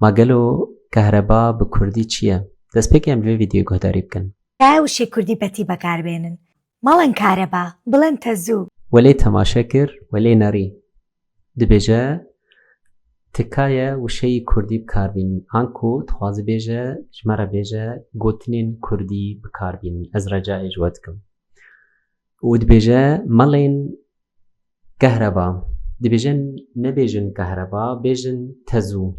Ma gelo kehreba bi kurdî çi ye? Destpêkê em li vê vîdeoyê guhdarî bikin. Dayê wişê kurdî betî bekar bênin. Malên kareba, bilên tezû. We lê temaşe kir, we lê nerî. Dibêje tikaye wişeyî kurdî bikar bînin. Anku dixwaze bêje ji me re bêje gotinên kurdî bikar bînin. Ez recayê ji we dikim. Û dibêje malên. Kehreba. Dibêjin nebêjin kehreba, bêjin tezû.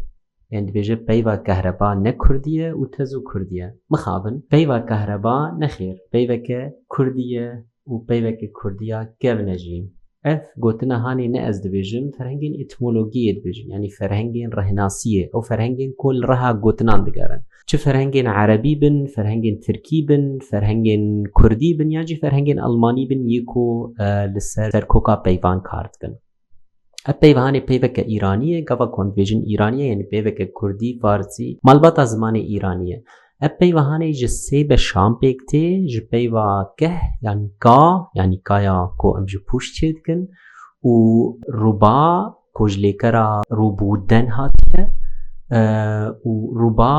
Yan dibêje peyva kehreba ne kurdî ye û tezû kurdî ye. Mixabin. Peyva kehreba nexêr, peyveke kurdî ye û peyveke kurdî ya kevne jî. Ev gotina hanê ne ez dibêjim, ferhengên etmologiyê dibêjin. Yanî ferhengên rehnasiyê. Ew ferhengên ku li reha gotinan digerin. Çi ferhengên erebî bin, ferhengên tirkî bin, ferhengên kurdî bin yan jî ferhengên elmanî bin yê ku li ser serkoka peyvan kar dikin. Ev peyvanê peyveke îranî ye, gava ku em dibêjin îranî ye yanî peyveke kurdî, farsî, malbata zimanê îranî ye. Ev peyvahanê ji sê beşan pêk tê ji peyva keh yan ka yanî kaya ku em ji pûş çêdikin û rûba ku ji lêkera rûb û den hatiye û rûba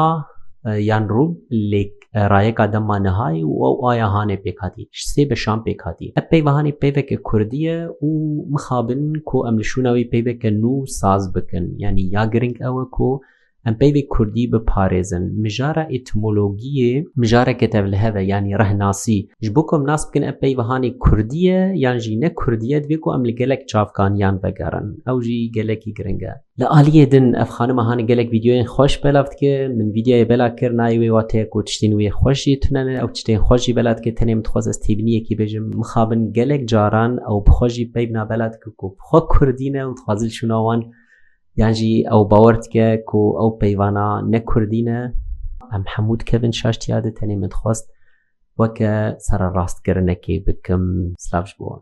yan rûb lê rayeka dema nihayê û ew aya hanê pêk hatî. Ji sê beşan pêk hatî. Ev peyva hanê peyveke kurdî ye û mixabin ku em li şûna wî peyveke nû saz bikin. Yanî ya giring ew e ku Em peyvê kurdî biparêzin. Mijara etimologiyê mijareke tevlihev e yanî rehnasî. Ji bo ku em nas bikin ev peyv hanê kurdî ye yan jî ne kurdî ye divê ku em li gelek çavkaniyan vegerin. Ew jî gelekî giring e. Li aliyê din ev xanima hanê gelek vîdeoyên xweş belav dike. Min vîdeoyê bela kir nayê wê wate ku tiştên wê xweş jî tune ne. Ew tiştên xweş jî bela dike tenê min dixwest ez têbiniyekî bêjim. Mixabin gelek caran ew bi xwe jî peyv na bela dike ku xwe kurdî ne û dixwaze li şûna wan Yan jî ew bawer dike ku ew peyvana ne Kurdî ne em hemû dikevin şaştiya de tenê min dixwast weke sererastkirinek ê bikim silav ji bo wan.